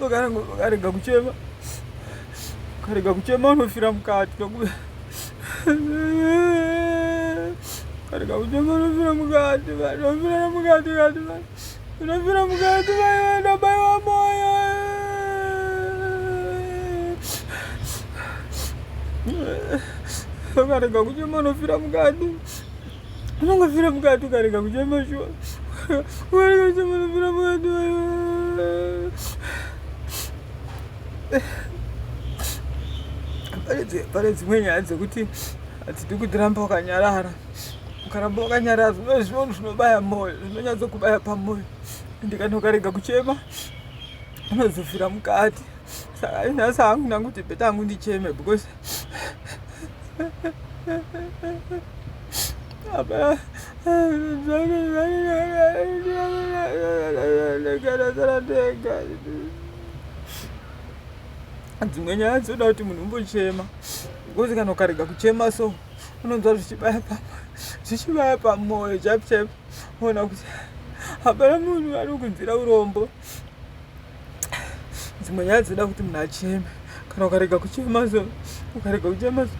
ukarega kuchema ukarega kuchema unofira mukati ukarega kuchema unofira mukati unofira mukati kati unofira mukati vaienda bai wa moyo ukarega kuchema unofira mukati unongofira mukati ukarega kuchema shuwa ukarega kuchema unofira mukati pane dzimwe nyaya dzekuti hadzidi kutiramba wakanyarara ukaramba wakanyarara zvino zvinhu zvinobaya mwoyo zvinonyatsokubaya pamwoyo ende kana ukarega kuchema unozofira mukati saka inhasi hangu nangu kuti bheta hangu ndicheme because dzimwe nyaya dzoda kuti munhu umbochema bcause kana ukarega kuchema so unonzwa zvichibaya pama zvichibaya pamoyo chap chap ona kuti hapana munhu anokunzira urombo dzimwe nyaya dzoda kuti munhu acheme kana ukarega kuchema so ukarega kuchema so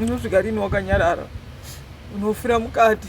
unosvika rini wakanyarara unofira mukati